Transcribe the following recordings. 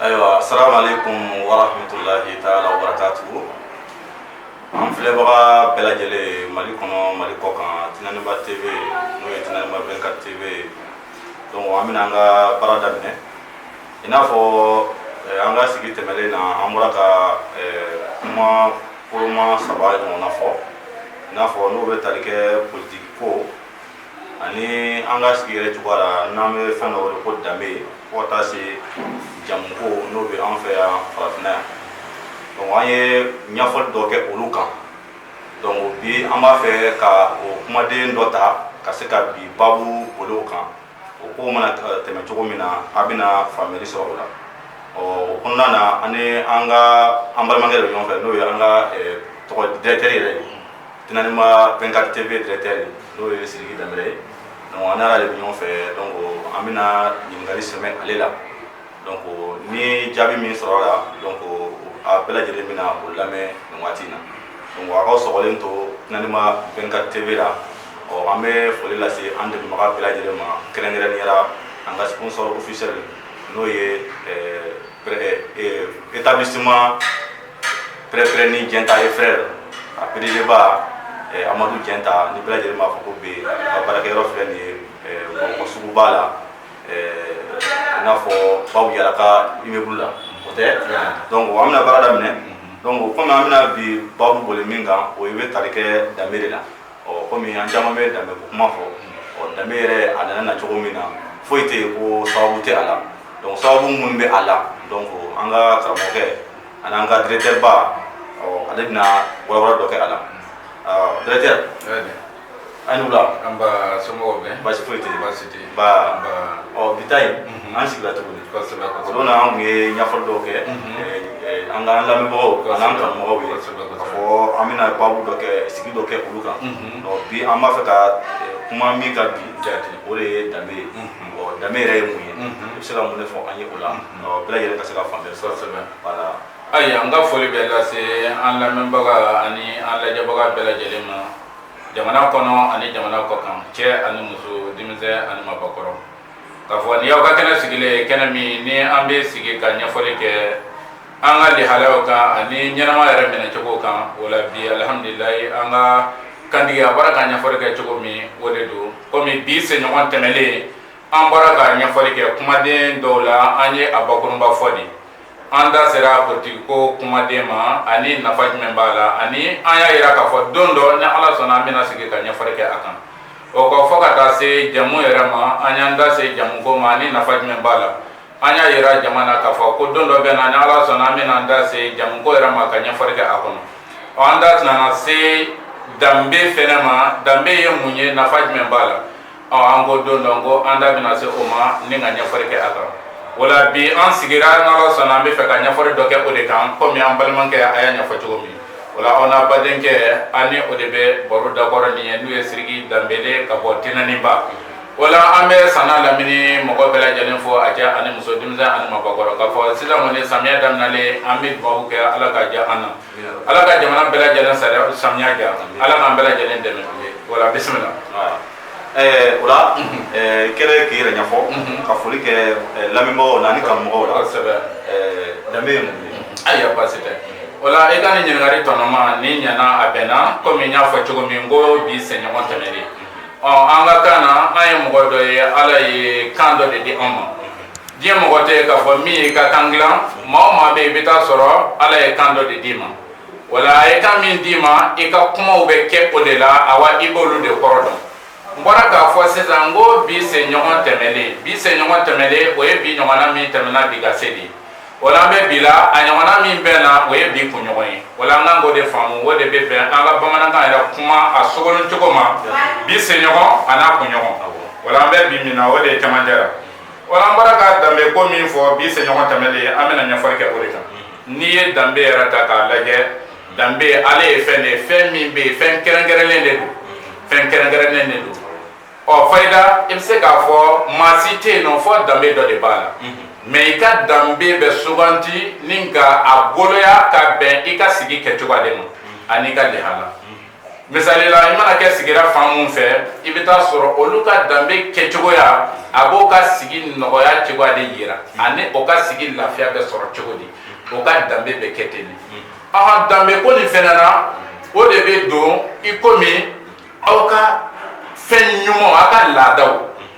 ayiwa salaamaaleykum wa rahmatulahi taala wa barakatuhu an filɛbaga bɛɛ lajɛlen mali kɔnɔ mali kɔ kan tinaniba tv n'o ye tinaniba 24 tv ye donc an bɛna an ka baara daminɛ i n'a fɔ eh, an ka sigi tɛmɛlen na an bɔra ka eh, kuma koloma saba ɲɔgɔnna fɔ i n'a fɔ n'o bɛ tali kɛ politiki ko ani an ka sigi yɛrɛ cogoya la n'an bɛ fɛn dɔ wele ko danbe fo ka taa se jamu ko n'o bɛ an fɛ yan farafinna yan donc an ye ɲɛfɔli dɔ kɛ olu kan donc bi an b'a fɛ ka o kumaden dɔ ta ka se ka bi babu boli o kan o ko mana tɛmɛ cogo min na a bɛna faamuyali sɔrɔ o la ɔ o kɔnɔna na an ni an ka an balimakɛ de bɛ ɲɔgɔn fɛ n'o ye an ka tɔgɔ directeur yɛrɛ ye tinaniba 24 tv directeur ye n'o ye siriki danbele ye donc an n'ale de bɛ ɲɔgɔn fɛ donc an bɛna ɲininkali sɛmɛ ale la donc ni jaabi min sɔrɔ la donc a bɛɛ lajɛlen bɛna o lamɛn nin waati in na donc a k'aw sɔgɔlen to tinaniba 24 tv la ɔ an bɛ foli lase an dɛmɛbaga bɛɛ lajɛlen ma kɛrɛnkɛrɛnnenya la an ka sponsor officiel n'o ye établissement pɛrɛpɛrɛnni jɛnta et frère a pdg ba amadu jɛnta ni bɛɛ lajɛlen b'a fɔ ko be ka baarakɛyɔrɔ filɛ nin ye bamakɔ suguba la i n'a fɔ babu yara ka immeuble la o tɛ donc an bɛna baara daminɛ donc komi an bɛna bi babu boli min kan o bɛ tali kɛ danbe de la ɔ komi an caman bɛ danbe ko kuma fɔ ɔ danbe yɛrɛ a nana na cogo min na foyi tɛ yen ko sababu tɛ a la donc sababu minnu bɛ a la donc an ka karamɔgɔkɛ ani an ka directeur ba ɔ ale bɛna walawala dɔ kɛ a la directeur aw ni wula nba somɔgɔw bɛ baasi foyi tɛ baasi tɛ ba ɔ bi ta in an sigila tuguni kosɛbɛ o don na an tun ye ɲɛfɔli dɔw kɛ an ka an lamɛnbagaw an'an kanumɔgɔw ye k'a fɔ an bɛna babu dɔ kɛ sigi dɔ kɛ olu kan ɔ bi an b'a fɛ ka kuma min kan bi o de ye danbe ye ɔ danbe yɛrɛ ye mun ye i bɛ se ka mun de fɔ an ye o la ɔ bɛɛ lajɛlen ka se ka faamuyali sɔrɔ kosɛbɛ voilà ayi an ka foli bɛ lase an lamɛnbaga ani an lajɛbaga bɛɛ lajɛlen ma jamana kɔnɔ ani jamana kɔ kan cɛ ani muso denmisɛn ani maabakɔrɔ k'a fɔ nin y'aw ka kɛnɛ sigilen ye kɛnɛ min ni an bɛ sigi ka ɲɛfɔli kɛ an ka lahalayaw kan ani ɲɛnama yɛrɛ minɛcogo kan o la bi alihamdulilayi an ka kantigi a bɔra ka ɲɛfɔli kɛ cogo min o de don komi bi senɲɔgɔn tɛmɛlen an bɔra ka ɲɛfɔli kɛ kumaden dɔw la an ye a bakurunba fɔ de an da sera politiki ko kumaden ma ani nafa jumɛn b'a la ani an y'a yira k'a fɔ don dɔ ni ala sɔnna an bɛna sigi ka ɲɛfɔli kɛ a kan o kɔ fɔ ka taa se jamu yɛrɛ ma an y'an da se jamu ko ma ani nafa jumɛn b'a la an y'a yira jama na k'a fɔ ko don dɔ bɛ na ni ala sɔnna an bɛna an da se jamu ko yɛrɛ ma ka ɲɛfɔli kɛ a kɔnɔ ɔ an da nana se danbe fɛnɛ ma danbe ye mun ye nafa jumɛn b'a la ɔ an ko don dɔ ko an da bɛna se o ma ni ka ɲɛfɔli kɛ a kan o la bi an sigira ni ala sɔnna an bɛ fɛ ka ɲɛfɔli dɔ kɛ o de kan kɔmi an balimakɛ a y'a ɲɛfɔ cogo min o la aw n'a badenkɛ an ni o de bɛ baro dakɔrɔ nin ye n'o ye siriki danbele ka bɔ tɛnɛninba o la an bɛ san n'a lamini mɔgɔ bɛɛ lajɛlen fo a cɛ ani muso denmisɛn ani maabakɔrɔ k'a fɔ sisan kɔni samiyɛ daminɛlen an bɛ dubabu kɛ ala ka diya an na ala ka jamana bɛɛ lajɛlen samiya diya ala k'an bɛɛ lajɛlen dɛmɛ o la bisimila o la kɛlɛ k'i yɛrɛ ɲɛfɔ ka foli kɛ lamɛnbagaw la ani karamɔgɔw la kosɛbɛ danbe ye mun ye ayiwa baasi tɛ o la i ka nin ɲininkali tɔnɔma ni ɲana a bɛnna komi n y'a fɔ cogo min ko bi senɲɔgɔn tɛmɛnen ɔ an ka kan na an ye mɔgɔ dɔ ye ala ye kan dɔ de di an ma Diɲɛ mɔgɔ tɛ yen k'a fɔ min y'i ka kan dilan maa o maa bɛ yen i bɛ taa sɔrɔ Ala ye kan dɔ de d'i ma, o la a ye kan min d'i ma i ka kumaw bɛ kɛ o de la, awa i b'olu de kɔrɔ dɔn, n bɔra k'a fɔ sisan n ko bi senɲɔgɔn tɛmɛnen, bi senɲɔgɔn tɛmɛnen o ye bi ɲɔgɔnna min tɛmɛna bi ka se bi, o la an bɛ bi la, a ɲɔgɔnna min bɛ na o ye bi kunɲɔgɔn ye, o la an ka kan k'o de faamu, o de bɛ bɛn an ka bamanankan yɛrɛ kuma a sogolon cogo ma, bi senɲɔgɔn an'a kunɲɔgɔn, o la an bɛ bi min na o de ye cɛmancɛ la. O la an bɔra ka danbe ko min fɔ bi senɲɔgɔn tɛmɛnlen ye an bɛna ɲɛfɔli kɛ o de kan n'i ye danbe yɛrɛ ta k'a lajɛ danbe ale ye fɛn de ye fɛn min bɛ yen fɛn kɛrɛnkɛrɛnnen de don fɛn kɛrɛnkɛrɛnnen de don ɔ fayida i bɛ se k'a fɔ maa si tɛ yen nɔ fɔ danbe dɔ de b'a la mɛ i ka danbe bɛ suganti ni ka a boloya ka bɛn i ka sigi kɛcogo de ma an'i ka lihala misali la i mana kɛ sigira fan mun fɛ i bɛ taa sɔrɔ olu ka danbe kɛcogoya a b'o ka sigi nɔgɔya cogoya de yira ani o ka sigi lafiya bɛ sɔrɔ cogo di o ka danbe bɛ kɛ ten de ahan danbe ko nin fɛnɛ na o de bɛ don i komi aw ka fɛn ɲuman aw ka laadaw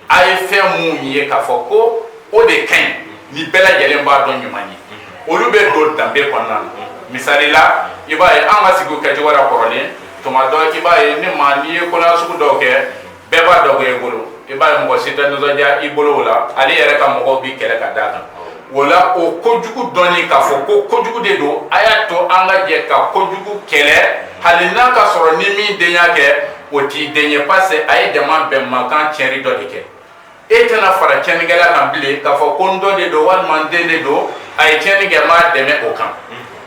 a ye fɛn minnu ye k'a fɔ ko o de ka ɲi ni bɛɛ lajɛlen b'a dɔn ɲuman ye olu bɛ don danbe kɔnɔna na misali la i b'a ye an ka sigi kɛcogo la kɔrɔlen tuma dɔ i b'a ye ne ma n'i ye koɲa sugu dɔw kɛ bɛɛ b'a dɔn e bolo i b'a ye mɔgɔ si tɛ nisɔndiya i bolo o la hali i yɛrɛ ka mɔgɔw b'i kɛlɛ ka d'a kan o la o kojugu dɔnni k'a fɔ ko kojugu de don a y'a to an ka jɛ ka kojugu kɛlɛ hali n'a ka sɔrɔ ni min den y'a kɛ O t'i den ye parce que a ye jama bɛnmakan tiɲɛni dɔ de kɛ e tɛna fara tiɲɛnikɛla kan bilen k'a fɔ ko n dɔ de don walima n den de don a ye tiɲɛni kɛ n b'a dɛmɛ o kan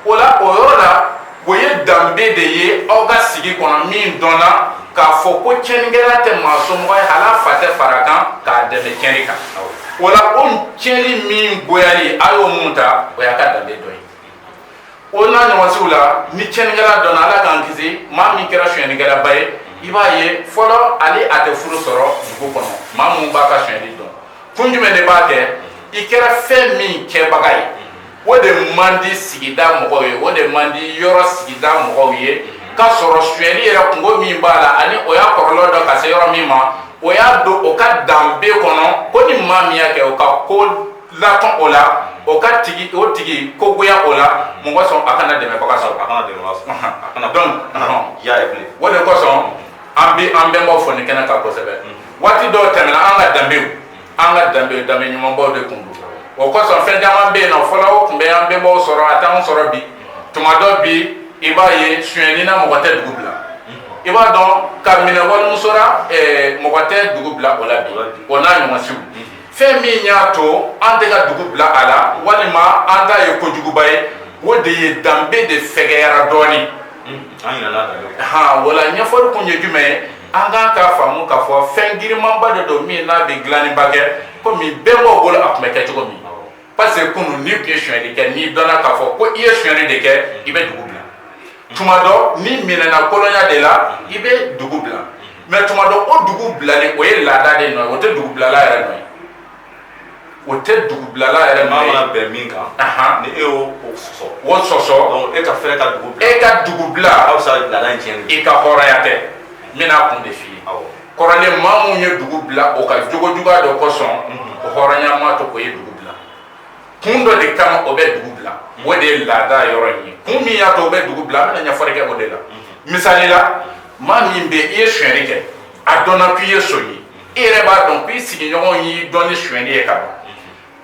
o la o yɔrɔ la o ye danbe de ye aw ka sigi kɔnɔ min dɔnna k'a fɔ ko tiɲɛnikɛla tɛ maa somɔgɔ ye hali a fa tɛ fara kan k'a dɛmɛ tiɲɛni kan o la o tiɲɛni min goyali a y'o mun ta o y'a ka danbe dɔ ye o n'a ɲɔgɔnsiw la ni tiɲɛnikɛla dɔnna ala k'an kisi maa min kɛra sonyɛnikɛlaba ye i b'a ye fɔlɔ ale a tɛ furu sɔrɔ dugu kɔnɔ maa minnu b'a ka sonyɛli dɔn kun jumɛn de b'a kɛ i kɛra fɛn min kɛbaga ye o de man di sigida mɔgɔw ye o de man di yɔrɔ sigida mɔgɔw ye k'a sɔrɔ sonyɛli yɛrɛ kunko min b'a la ani o y'a kɔlɔlɔ dɔn ka se yɔrɔ min ma o y'a don o ka danbe kɔnɔ ko ni maa min y'a kɛ o ka ko latɔn o la o k'a tigi o tigi ko goya o la mɔgɔ sɔn a kana dɛmɛbaga sɔrɔ a kana dɛmɛbaga sɔrɔ a kana donc i y'a ye bilen o de kosɔn an bɛ an bɛnbaw fɔ nin kɛnɛ kan kosɛbɛ waati dɔw tɛmɛna an ka danbew an ka danbe danbe ɲumanbaw de tun don o kosɔn fɛn caman bɛ yen nɔ fɔlɔ o tun bɛ an bɛnbaw sɔrɔ a t'anw sɔrɔ bi tuma dɔ bi i b'a ye sonyɛni na mɔgɔ tɛ dugu bila i b'a dɔn ka minɛ walimuso la mɔgɔ tɛ dugu bila o la bi o n'a ɲɔgɔnsiw fɛn min y'a to an tɛ ka dugu bila a la walima an t'a ye kojuguba ye o de ye danbe de fɛgɛyara dɔɔnin ha voilà ɲɛfɔli kun ye jumɛn ye an ka kan k'a faamu k'a fɔ fɛn girinmanba de don min n'a bɛ dilanniba kɛ komi bɛnbaw bolo a tun bɛ kɛ cogo min parce que kunun n'i tun ye sonyali kɛ n'i dɔnna k'a fɔ ko i ye sonyali de kɛ i bɛ dugu bila tuma dɔ n'i minɛna kolonya de la i bɛ dugu bila mais tuma dɔ o dugu bilali o ye laada de nɔ ye o tɛ dugu bilala yɛrɛ nɔ ye o tɛ dugu bilala yɛrɛ nɔ ye maa mana bɛn min kan ni e y'o o sɔsɔ o sɔsɔ e ka fɛrɛ ka dugu bila e ka dugu bila aw bɛ se ka laada in tiɲɛ i ka hɔrɔnya tɛ n bɛna a kun de f'i ye awɔ kɔrɔlen maa minnu ye dugu bila o ka jogo juguya dɔ kosɔn o hɔrɔnya ma to o ye dugu bila kun dɔ de kama o bɛ dugu bila o de ye laada yɔrɔ in ye kun min y'a to o bɛ dugu bila an bɛna ɲɛfɔli kɛ o de la misali la maa min bɛ i ye sonyɛli kɛ a dɔnna k'i ye son ye i yɛrɛ b'a dɔn k'i sigiɲɔgɔn y'i dɔn ni sonyɛli ye ka ban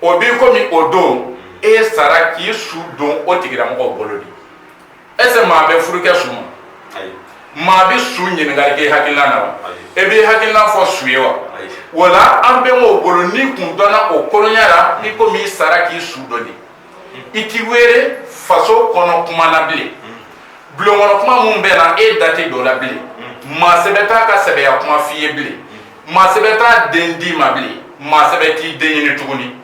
o b'i komi o don e sara k'i su don o tigilamɔgɔw bolo de est-ce que maa bɛ furu kɛ su ma maa bɛ su ɲininkali kɛ hakilina na wa e b'i hakilina fɔ su ye wa voilà an bɛnbaw bolo n'i tun dɔnna o kolonya la i komi i sara k'i su don de i ti wele faso kɔnɔ kuma na bilen bulon kɔnɔ kuma minnu bɛ na e da tɛ don o la bilen maa sɛbɛ t'a ka sɛbɛya kuma f'i ye bilen maa sɛbɛ t'a den d'i ma bilen maa sɛbɛ t'i den ɲini tuguni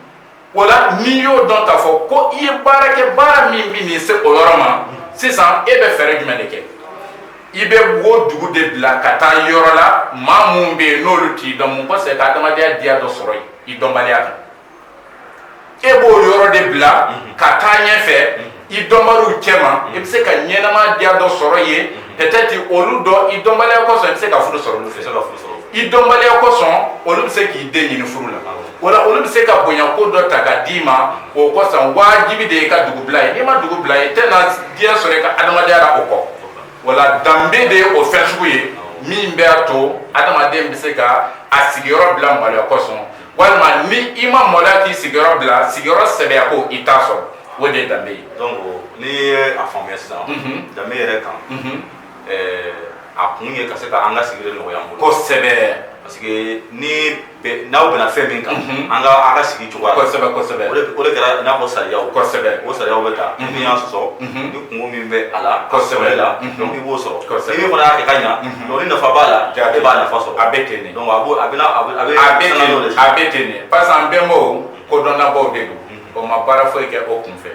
o la n'i y'o dɔn k'a fɔ ko i ye baara kɛ baara min bɛ nin se o yɔrɔ ma sisan e bɛ fɛɛrɛ jumɛn de kɛ i bɛ wo dugu de bila ka taa yɔrɔ la maa minnu bɛ yen n'olu t'i dɔn mun kosɔn ka adamadenya diya dɔ sɔrɔ i dɔnbaliya kan e b'o yɔrɔ de bila ka taa ɲɛfɛ i dɔnbaliw cɛma i bɛ se ka ɲɛnama diya dɔ sɔrɔ yen peut-être olu dɔ i dɔnbaliya kosɔn i bɛ se ka furu sɔrɔ olu fɛ i dɔnbaliya kosɔn olu bɛ se k'i den ɲini furu la wala olu bɛ se ka bonya ko dɔ ta ka d'i ma o kosɔn wajibi de ye ka dugu bila ye n'i ma dugu bila ye i tɛna diya sɔrɔ i ka adamadenya la o kɔ wala danbe de ye o fɛn sugu ye min bɛ'a to adamaden bɛ se ka a sigiyɔrɔ bila maloya kosɔn walima ni i ma maloya k'i sigiyɔrɔ bila sigiyɔrɔ sɛbɛya ko i t'a sɔrɔ o de ye danbe ye donc n'i ye a faamuya sisan danbe yɛrɛ kan a kun ye ka se ka an ka sigili nɔgɔya an bolo kosɛbɛ parce que ni n'aw bɛnna fɛn min kan an ka sigi cogoya kosɛbɛ kosɛbɛ o de kɛra n'a ko sariyaw kosɛbɛ o sariyaw bɛ ta n'i y'a sɔsɔ ni kunko min bɛ a la kosɛbɛ la donc i b'o sɔrɔ kosɛbɛ min fana y'a kɛ ka ɲa ni nafa b'a la e b'a nafa sɔrɔ a bɛ ten de donc a bɛ ten de parce que an bɛnbaw kodɔnnabaw de don o ma baara foyi kɛ o kunfɛ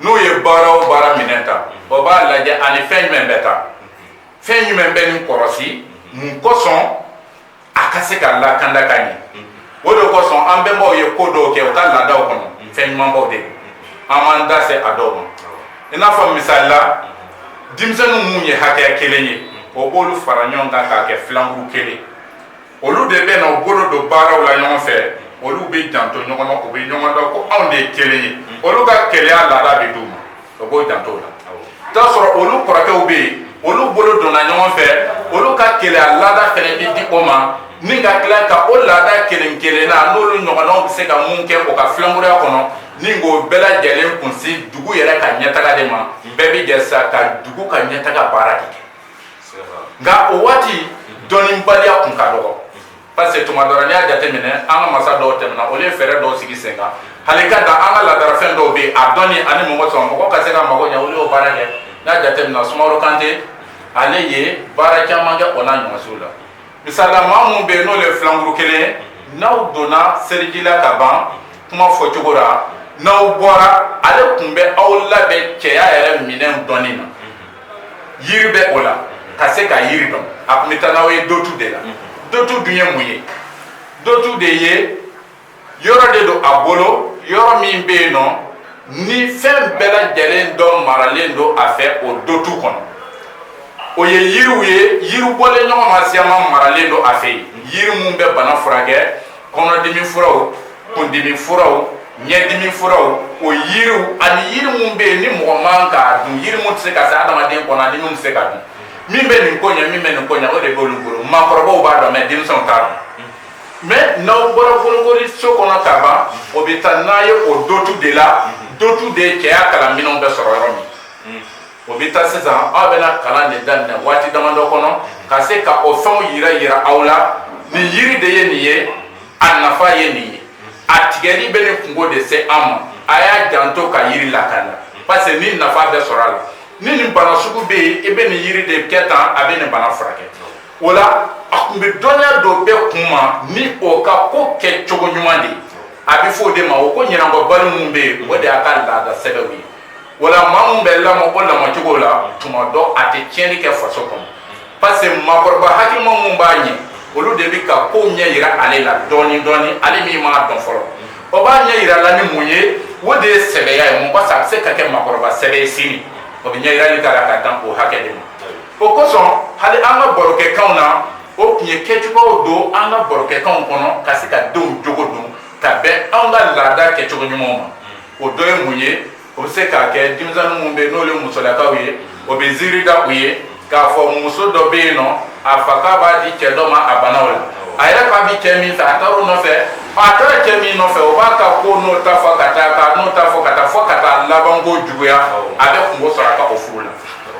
n'u ye baara o baara minɛ ta o b'a lajɛ ani fɛn jumɛn bɛ ta fɛn jumɛn bɛ nin kɔrɔsi mun kosɔn a ka se ka lakanda ka ɲɛ o de kosɔn an bɛnbaw ye ko dɔw kɛ u ka laadaw kɔnɔ fɛn ɲumanbaw de an b'an da se a dɔw ma i n'a fɔ misali la denmisɛnninw minnu ye hakɛya kelen ye o b'olu fara ɲɔgɔn kan k'a kɛ filankuru kelen olu de bɛ na u bolo don baaraw la ɲɔgɔn fɛ olu bɛ janto ɲɔgɔn na u bɛ ɲɔgɔn dɔn ko anw de ye kelen ye olu ka kelenya laada bɛ d'u ma o b'o janto la t'a sɔrɔ olu kɔrɔkɛw bɛ yen olu bolo donna ɲɔgɔn fɛ olu ka kelenya laada fɛnɛ bɛ di o ma ni ka tila ka o laada kelen kelenna n'olu ɲɔgɔnnaw bɛ se ka mun kɛ o ka filankuruya kɔnɔ ni k'o bɛɛ lajɛlen kunsi dugu yɛrɛ ka ɲɛtaga de ma bɛɛ bɛ jɛ sa ka dugu ka ɲɛtaga baara de kɛ nka o waati dɔnnibaliya tun ka dɔgɔ parce que tuma dɔ ra n'i y'a jateminɛ an ka masa dɔw tɛmɛna olu ye fɛɛrɛ dɔw sigi sen kan hali ka da an ka laadarafɛn dɔw bɛ yen a dɔnni ani mun kosɔn mɔgɔ ka se ka mago ɲɛ olu y'o baara kɛ n'a jateminɛ sumaworo kante ale ye baara caman kɛ o n'a ɲɔgɔnsiw la misali la maa minnu bɛ yen n'olu ye filankuru kelen ye n'aw donna seliji la ka ban kuma fɔcogo la n'aw bɔra ale tun bɛ aw labɛn cɛya yɛrɛ minɛn dɔnni na yiri bɛ o la ka se ka yiri dɔn a tun bɛ taa n'aw ye dotu de la dotu dun ye mun ye dotu de ye yɔrɔ de don a bolo yɔrɔ min bɛ yen nɔ ni fɛn bɛɛ lajɛlen dɔ maralen don a fɛ o dotu kɔnɔ o ye yiriw ye yiri bɔlen ɲɔgɔn ma siyama maralen don a fɛ yen yiri minnu bɛ bana furakɛ kɔnɔdimi furaw kundimi furaw ɲɛdimi furaw o yiriw ani yiri minnu bɛ yen ni mɔgɔ man k'a dun yiri minnu tɛ se ka se adamaden kɔnɔ ani minnu tɛ se ka dun min bɛ nin ko ɲɛ min bɛ nin ko ɲɛ o de b'olu bolo maakɔrɔbaw b'a dɔn mɛ denmisɛnw t'a dɔn mɛ n'aw bɔra bolokoli so kɔnɔ ka ban o bɛ taa n'a ye o dotu de la dotu de cɛya kalan minɛnw bɛ sɔrɔ yɔrɔ min o bɛ taa sisan aw bɛna kalan de daminɛ waati damadɔ kɔnɔ ka se ka o fɛnw yira yira aw la nin yiri de ye nin ye a nafa ye nin ye a tigɛli bɛ nin kunko de se an ma a y'a janto ka yiri lakana parce que ni nafa bɛ sɔrɔ a la ni nin bana sugu bɛ yen i bɛ nin yiri de kɛ tan a bɛ nin bana furakɛ o la a tun bɛ dɔnniya don bɛɛ kun ma ni o ka ko kɛcogo ɲuman de ye a bɛ fɔ o de ma o ko ɲɛnabɔbali minnu bɛ yen o de y'a ka laada sɛbɛw ye wala maa min bɛ lamɔ o lamɔcogo la tuma dɔ a tɛ tiɲɛni kɛ faso kɔnɔ parce que maakɔrɔba hakilima minnu b'a ɲɛ olu de bɛ ka ko ɲɛ yira ale la dɔɔnin dɔɔnin ale min m'a dɔn fɔlɔ o b'a ɲɛ yira la ni mun ye o de ye sɛbɛya ye mun waasa a bɛ se ka kɛ maakɔrɔba sɛbɛ ye sini o bɛ ɲɛ yirali k'a la ka dan o hakɛ de ma o kosɔn hali an ka barokɛkanw na o tun ye kɛcogow don an ka barokɛkanw kɔnɔ ka se ka denw jogo don ka bɛn an ka laada kɛcogo ɲumanw ma o dɔ ye mun ye o bɛ se k'a kɛ denmisɛnnin minnu bɛ n'olu ye musolakaw ye o bɛ ziiri da u ye k'a fɔ muso dɔ bɛ yen nɔ a fa k'a b'a di cɛ dɔ ma a banna o la a yɛrɛ k'a bi cɛ min fɛ a taara o nɔfɛ a taara cɛ min nɔfɛ o b'a ka ko n'o ta fɔ ka taa ka n'o ta fɔ ka taa fɔ ka taa labanko juguya a bɛ kunko sɔrɔ a ka o furu la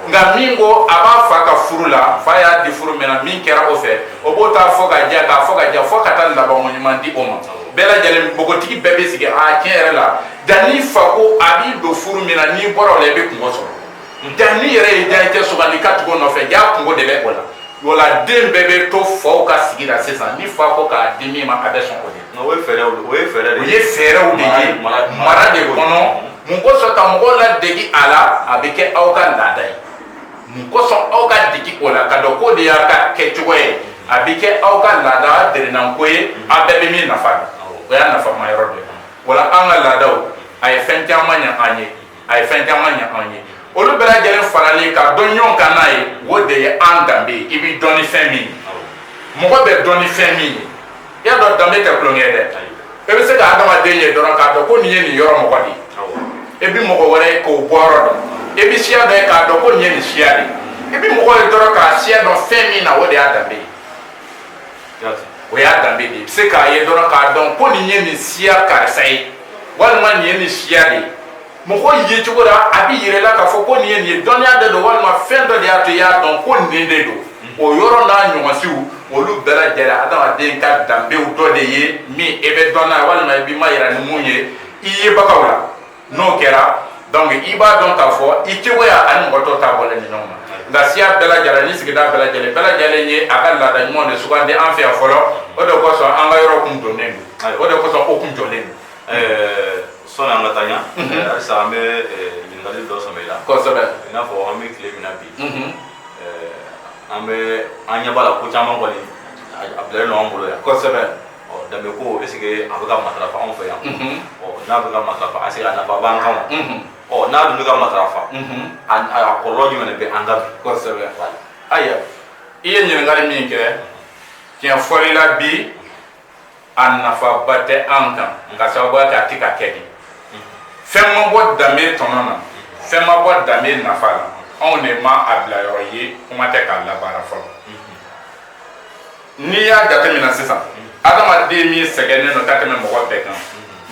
nka min ko a b'a fa ka furu la fa y'a di furu min na min kɛra o fɛ o b'o ta fɔ ka jɛ k'a fɔ ka jɛ fɔ ka taa labanko ɲuman di o ma bɛɛ lajɛlen npogotigi bɛɛ bɛ sigi a tiɲɛ yɛrɛ la jaa n'i fa ko a b'i don furu min na n'i bɔra o la i bɛ kunko sɔrɔ jaa n'i yɛrɛ y'i diyanyecɛ sugandi ka tugu o nɔfɛ jaa kunko de bɛ o la o la den bɛɛ bɛ to faw ka sigi la sisan ni fa ko k'a di min ma a bɛ sɔn o ye o ye fɛɛrɛw de ye o ye fɛɛrɛw de ye mara de kɔnɔ mun kosɔn ka mɔgɔw ladegi a la a bɛ kɛ aw ka laada ye mun kosɔn aw ka degi o la k'a dɔn k'o de y'a ka kɛcogo ye a bɛ kɛ aw ka laada delinanko ye a bɛɛ bɛ min nafa o y'a nafama yɔrɔ de wala an ka laadaw a ye fɛn caman ɲɛ an ye a ye fɛn caman ɲɛ an ye olu bɛɛ lajɛlen faralen ka don ɲɔgɔn kan n'a ye o de ye an danbe ye i bɛ dɔn ni fɛn min mɔgɔ bɛ dɔn ni fɛn min ye i y'a dɔn danbe tɛ tulonkɛ ye dɛ e bɛ se ka adamaden ye dɔrɔn k'a dɔn ko nin ye nin yɔrɔ mɔgɔ de ye e bɛ mɔgɔ wɛrɛ ye k'o bɔyɔrɔ dɔn e bɛ siya dɔ ye k'a dɔn ko nin ye nin siya de ye e bɛ mɔgɔ ye dɔrɔn k'a siya dɔn fɛn min na o de y'a danbe ye o y'a danbe de ye i bɛ se k'a ye dɔrɔn k'a dɔn ko nin ye nin siya karisa ye walima nin ye nin siya de ye mɔgɔ ye cogo la a bɛ yira i la k'a fɔ ko nin ye nin ye dɔnniya de don walima fɛn dɔ de y'a to i y'a dɔn ko nin de don o yɔrɔ n'a ɲɔgɔnsiw olu bɛɛ lajɛlen adamaden ka danbew dɔ de ye min e bɛ dɔn n'a ye walima i b'i ma yira ni mun ye i yebagaw la n'o kɛra donc i b'a dɔn k'a fɔ i cogoya ani mɔgɔ tɔw ta bɔlen ni ɲɔgɔn ma nka siya bɛɛ lajɛlen ni sigida bɛɛ lajɛlen bɛɛ lajɛlen ye a ka laada ɲuman de sugandi an fɛ yan fɔlɔ o de kosɔn an ka yɔrɔ kun jɔlen don o de kosɔn o kun jɔlen don sɔni an ka taa ɲa ɛɛ, halisa an bɛ ɛɛ, ɲininkali dɔ sɛmɛ i la kosɛbɛ i n'a fɔ an bɛ tile min na bi Mhm. ɛɛ, an bɛ an ɲɛ b'a la ko caman kɔni a a bilalen don an bolo yan kosɛbɛ ɔ danbe ko est ce que a bɛ ka matarafa anw fɛ yan Mhm. ɔ n'a bɛ ka matarafa est ce que a nafa b'an kan wa Mhm. ɔ n'a dun tɛ ka matarafa Mhm. a a a kɔlɔlɔ jumɛn de bɛ an kan bi kosɛbɛ ayiwa i ye ɲininkali min kɛ tiɲɛ fɔli la bi a nafaba tɛ an kan k'a sababuya kɛ a tɛ ka kɛ de fɛn ma bɔ danbe tɔnɔ na fɛn ma bɔ danbe nafa la anw de ma a bilayɔrɔ ye kuma tɛ k'a labaara fɔlɔ n'i y'a jateminɛ sisan adamaden min sɛgɛnnen don ka tɛmɛ mɔgɔ bɛɛ kan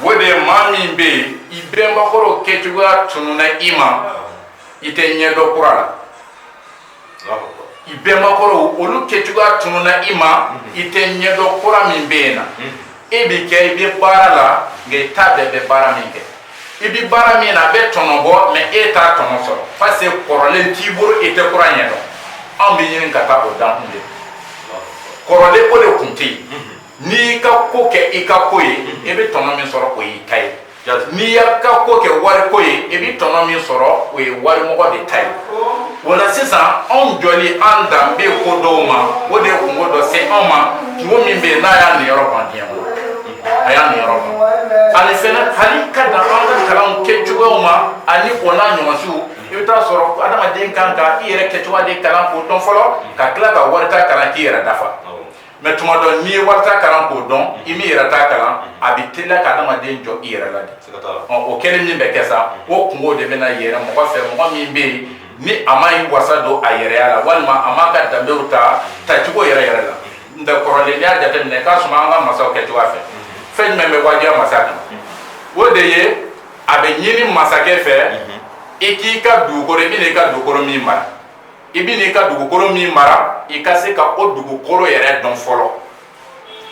o de ye maa min bɛ yen i bɛnbakɔrɔw kɛcogoya tununa i ma i tɛ ɲɛdɔn kura la i bɛnbakɔrɔw olu kɛcogoya tununa i ma i tɛ ɲɛdɔn kura min bɛ yen na e bɛ kɛ i bɛ baara la nka i t'a bɛɛ bɛ baara min kɛ i bɛ baara min na a bɛ tɔnɔ bɔ mɛ e t'a tɔnɔ sɔrɔ parce que kɔrɔlen t'i bolo e tɛ kura ɲɛdɔn anw bɛ ɲini ka taa o dankun de kɔrɔlen o de kun tɛ yen n'i y'i ka ko kɛ i ka ko ye i bɛ tɔnɔ min sɔrɔ o y'i ta ye n'i y'i ka ko kɛ wali ko ye i bɛ tɔnɔ min sɔrɔ o ye walimɔgɔ de ta ye o la sisan anw jɔli an danbe ko dɔw ma o de ye kunko dɔ se anw ma kunko min bɛ yen n'a y'an niyɔrɔ ban diɲɛ kɔnɔ a y'an niyɔrɔ ban ani fɛnɛ hali ka dan an ka kalanw kɛcogoyaw ma ani o n'a ɲɔgɔnsiw i bɛ t'a sɔrɔ adamaden kan ka i yɛrɛ kɛcogoya de kalan k'o dɔn fɔlɔ ka tila ka wali ta kalan k'i yɛrɛ dafa mɛ tuma dɔ n'i ye wali ta kalan k'o dɔn i m'i yɛrɛ ta kalan a bɛ teliya ka adamaden jɔn i yɛrɛ la de o kɛlen min bɛ kɛ sa o kunko de bɛna yɛrɛ mɔgɔ fɛ mɔgɔ min bɛ yen ni a ma i wasa don a yɛrɛya la walima a m'a ka danbew ta tacogo yɛrɛ yɛrɛ la n kɔrɔlen n'i y'a jateminɛ k'a sɔrɔ an ka masaw kɛcogoya fɛ fɛn jumɛn bɛ wajibiya masa kan o de ye a bɛ ɲini masakɛ fɛ i k'i ka dugukolo i bɛna i ka dugukolo min mara i bɛ n'i ka dugukolo min mara i ka se ka o dugukolo yɛrɛ dɔn fɔlɔ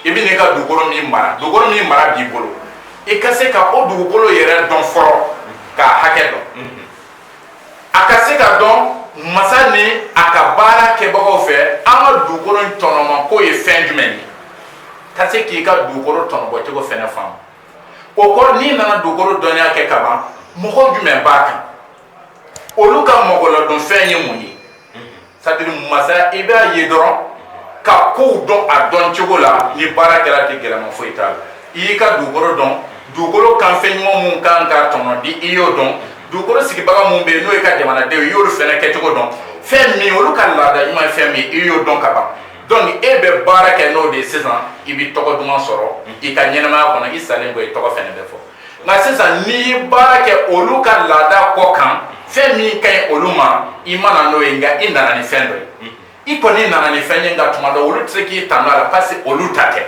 i bɛ n'i ka dugukolo min mara dugukolo min mara b'i bolo i ka se ka o dugukolo yɛrɛ dɔn fɔlɔ k'a hakɛ dɔn mm-hmm. a ka se ka dɔn masa ni a ka baara kɛbagaw fɛ an ka dugukolo in tɔnɔma ko ye fɛn jumɛn ye ka se k'i ka dugukolo tɔnɔbɔcogo fɛnɛ faamu o kɔrɔ n'i nana dugukolo dɔnniya kɛ ka ban mɔgɔ jumɛn b'a kan olu ka mɔgɔladonfɛn ye mun ye c'est-à-dire masa i b'a ye dɔrɔn ka kow dɔn a dɔn cogo la ni baara kɛra tɛ gɛlɛma foyi t'a la i y'i ka dugukolo dɔn dugukolo kanfɛn ɲuman minnu kan ka tɔnɔ di i y'o dɔn dugukolo sigibaga minnu bɛ yen n'o y'i ka jamanadenw i y'olu fɛnɛ kɛcogo dɔn fɛn min olu ka laada ɲuman ye fɛn min i y'o dɔn ka ban donc e bɛ baara kɛ n'o de ye sisan i bɛ tɔgɔ duman sɔrɔ i ka ɲɛnamaya kɔnɔ i salen kɔ i tɔgɔ fɛnɛ bɛ fɔ nka sisan n'i ye baara kɛ olu ka laada kɔ kan fɛn min ka ɲi olu ma i ma na n'o ye nka i nana ni fɛn dɔ ye i kɔni nana ni fɛn ye nka tuma dɔ olu tɛ se k'i tanu a la parce que olu ta tɛ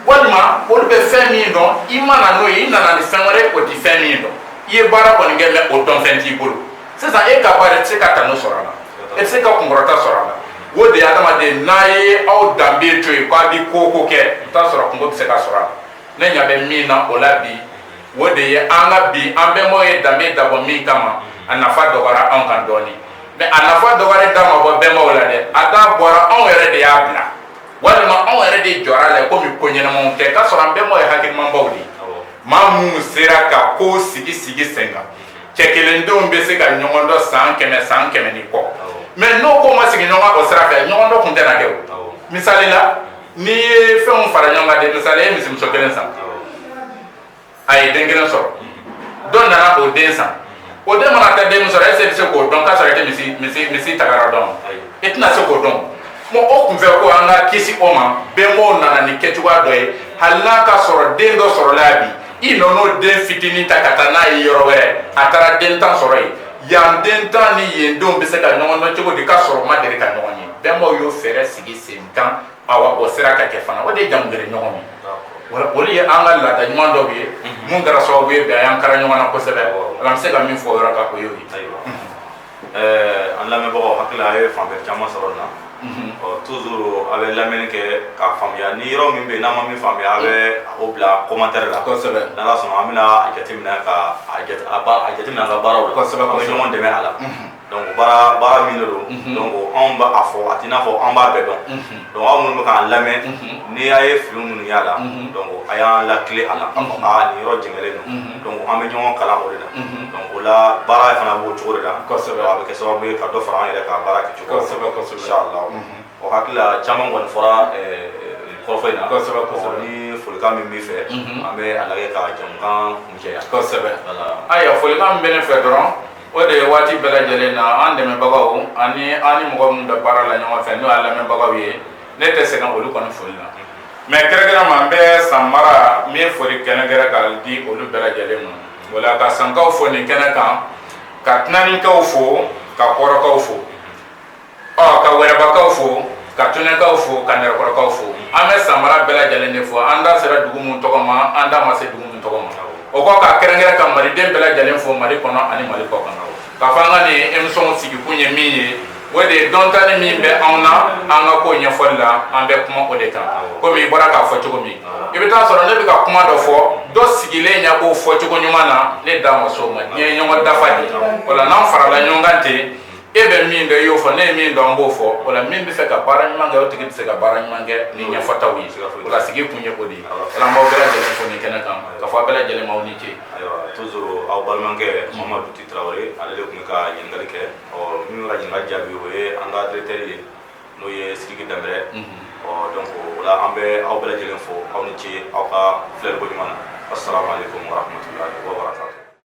walima olu bɛ fɛn min dɔn i ma na n'o ye i nana ni fɛn wɛrɛ o tɛ fɛn min dɔn i ye baara kɔni kɛ mais o dɔn fɛn t'i bolo sisan e ka baara i tɛ se ka tanu sɔrɔ a la e tɛ se ka kunkɔrɔta sɔrɔ a la o de ye adamaden n'a ye aw danbe to yen k'a bɛ ko o ko kɛ i bɛ t'a sɔrɔ kunko bɛ se ka sɔrɔ a la ne ɲa bɛ min na o la bi o de ye an ka bi an bɛnbaw ye danbe dabɔ min kama a nafa dɔgɔyara anw kan dɔɔni mais a nafa dɔgɔyalen da ma bɔ bɛnbaw la dɛ a da bɔra anw yɛrɛ de y'a bila walima anw yɛrɛ de jɔra a la komi ko ɲɛnamaw tɛ k'a sɔrɔ an bɛnbaw ye hakilimanbaw de ye maa minnu sera ka ko sigi sigi sen kan cɛ kelendenw bɛ se ka ɲɔgɔn dɔn san kɛmɛ san kɛmɛ ni kɔ mais n'o ko ma sigi ɲɔgɔn o sira fɛ ɲɔgɔn dɔn tun tɛna kɛ o misali la n'i ye fɛnw fara ɲɔgɔn kan de misali i ye misimuso kelen san a ye den kelen sɔrɔ dɔ nana o den san o den mana taa den min sɔrɔ e bɛ se k'o dɔn k'a sɔrɔ i tɛ misi misi misi tagara dɔn i tɛna se k'o dɔn bon o kun fɛ ko an ka kisi o ma bɛnbaw nana ni kɛcogoya dɔ ye hali n'a k'a sɔrɔ den dɔ sɔrɔla yan bi i nɔn'o den fitinin ta ka taa n'a ye yɔrɔ wɛrɛ a taara den tan sɔrɔ yen yan den tan ni yen denw bɛ se ka ɲɔgɔn dɔn cogo di k'a sɔrɔ u ma deli ka ɲɔgɔn ye bɛnbaw y'o fɛɛrɛ sigi sen kan awa o sera ka kɛ fana o de ye jamu ɲɔgɔn ye olu ye an ka laada ɲuman dɔw ye minnu kɛra sababu ye bi a y'an kara ɲɔgɔn na kosɛbɛ ala an bɛ se ka min fɔ o yɔrɔ kan o y'o ye an lamɛnbagaw hakili la a ye fanba caman sɔrɔ nin na toujours a bɛ lamɛnni kɛ k'a faamuya ni yɔrɔ min bɛ n'a ma min faamuya a bɛ o bila commentaire la kosɛbɛ n'ala sɔnna an bɛna a jateminɛ k'a jateminɛ an ka baaraw la an bɛ ɲɔgɔn dɛmɛ a la Dɔnku baara baara min don dɔnku anw b'a fɔ a tɛna a fɔ an b'a bɛɛ dɔn dɔnku aw minnu bɛ k'an lamɛn n'i y'a ye fili minnu y'a la dɔnku a y'an latilen a la ni yɔrɔ jɛngɛlen don dɔnku an bɛ ɲɔgɔn kalan o de la dɔnku o la baara fana b'o cogo de la a bɛ kɛ sababu ye ka dɔ fara an yɛrɛ ka baara kɛ cogo la inshallah hakilila caman kɔni fɔra kɔrɔfɔ in na ni folikan min b'i fɛ an bɛ a lajɛ ka jamukan kuncɛ yan ayiwa folikan min bɛ ne fɛ dɔrɔn o de ye waati bɛɛ lajɛlen na an dɛmɛbagaw ani an ni mɔgɔ minnu bɛ baara la ɲɔgɔn fɛ n'o y'a lamɛnbagaw ye ne tɛ sɛgɛn olu kɔni foli la mɛ kɛrɛnkɛrɛn ma n bɛ san mara min foli kɛrɛnkɛrɛn ka di olu bɛɛ lajɛlen ma o la ka sankaw fo nin kɛnɛ kan ka tinaninkaw fo ka kɔrɔkaw fo Ɔ ka wɛrɛbakaw fo ka tunenkaw fo ka nɛrɛkɔrɔkaw fo an bɛ san mara bɛɛ lajɛlen de fo an da sera dugu minnu tɔgɔ ma an da ma se dugu minnu tɔgɔ ma o kɔ ka kɛrɛnkɛrɛn ka maliden bɛɛ lajɛlen fo mali kɔnɔ ani mali kɔkan ka fɔ an ka nin emisɔn sigikun ye min ye o de ye dɔntanin min bɛ anw na an ka ko ɲɛfɔli la an bɛ kuma o de kan komi i bɔra k'a fɔ cogo min i bɛ taa a sɔrɔ ne bɛ ka kuma dɔ fɔ dɔ sigilen yen k'o fɔ cogo ɲuman na ne da ma s'o ma nin ye ɲɔgɔn dafa ye o la n'an farala ɲɔgɔn kan ten e bɛ min dɔn i y'o fɔ ne ye min dɔn an b'o fɔ o la min b'a fɛ ka baara ɲuman kɛ o tigi bɛ se ka baara ɲuman kɛ ni ɲɛfɔtaw ye o la sigikun ye o de ye o la n b'aw bɛɛ lajɛlen fo nin kɛnɛ kan ka fɔ aw bɛɛ lajɛlen ma aw ni ce ayiwa toujours aw balimakɛ mamadu ti tarawele ale de tun bɛ ka ɲininkali kɛ ɔ min bɛ ka ɲininkali jaabi o ye an ka directeur ye n'o ye sidiki danbɛlɛ ɔ donc o la an bɛ aw bɛɛ lajɛlen fo aw ni ce aw ka filɛliko ɲuman na assalamu alaikum warahmatullahi wabarakatuh